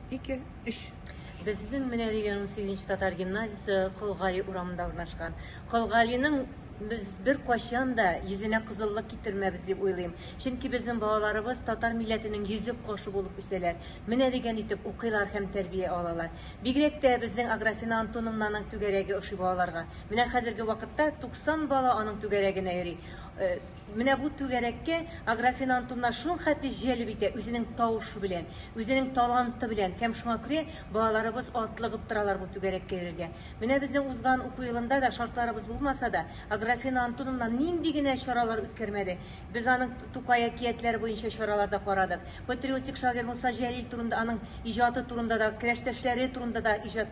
Ике, өч. Безнең менә дигән унсигезенче татар гимназиясе Колгали урамында урнашкан. Колгалиның без бер кайчан да йөзенә кызыллык китермәбез дип уйлыйм. Чөнки безнең балаларыбыз татар милләтенең йөзек кошы булып үсәләр. Менә дигән итеп укыйлар һәм тәрбия алалар. Бигрәк тә безнең Аграфена Антоновнаның түгәрәге ошый балаларга. Менә хәзерге вакытта 90 бала аның түгәрәгенә йөри. Э, Менә бу түгәрәккә агрофинантумнар шул хәтле җәлеп итә үзенең тавышы белән, үзенең таланты белән һәм шуңа күрә балаларыбыз атлыгып торалар бу түгәрәккә йөрергә. Менә безнең узган уку елында да шартларыбыз булмаса да, агрофинантунумнан нинди генә чаралар үткәрмәде. Без аның Тукай әкиятләре буенча чаралар да карадык. Патриотик шагыйрь Муса Җәлил турында, аның иҗаты турында да, кләштәшләре турында да иҗат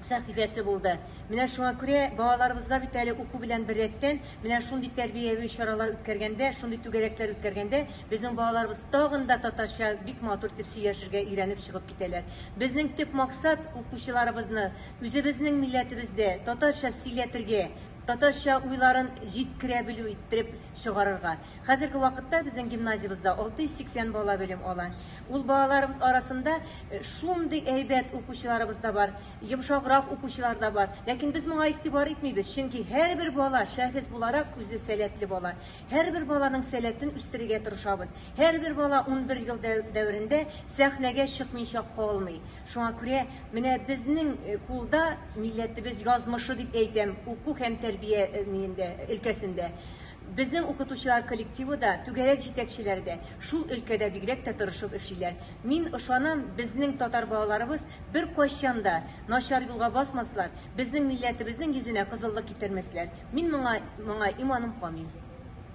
сәхифәсе булды. Менә шуңа күрә балаларыбызга бит әле уку белән беррәттән, менә шундый тәрбияви чаралар үткәргәндә, шундый түгәрәкләр үткәргәндә, безнең балаларыбыз тагын да татарча бик матур итеп сөйләшергә өйрәнеп чыгып китәләр. Безнең төп максат, укучыларыбызны үзебезнең милләтебездә татарча сөйләтергә, татарча уйларын җиткерә белү иттереп чыгарырга. Хәзерге вакытта безнең гимназиябездә 680 бала белем ала. Ул балаларыбыз арасында э, шундый әйбәт укучыларыбыз да бар, йомшаграк укучылар да бар. Ләкин без моңа игътибар итмибез, чөнки һәрбер бала шәхес буларак үзе сәләтле бала. Һәрбер баланың сәләтен үстерергә тырышабыз. Һәрбер бала 11 ел дәверендә сәхнәгә чыкмыйча калмый. Шуңа күрә менә безнең э, кулда милләтебез язмышы дип әйтәм, уку һәм тәрбия э, өлкәсендә. Безнең укытучылар коллективы да, түгәрәк җитәкчеләре дә шул өлкәдә бигрәк тә тырышып эшлиләр. Мин ышанам, безнең татар балаларыбыз беркайчан да начар юлга басмаслар, безнең милләтебезнең йөзенә кызыллык китермәсләр. Мин моңа моңа иманым камил.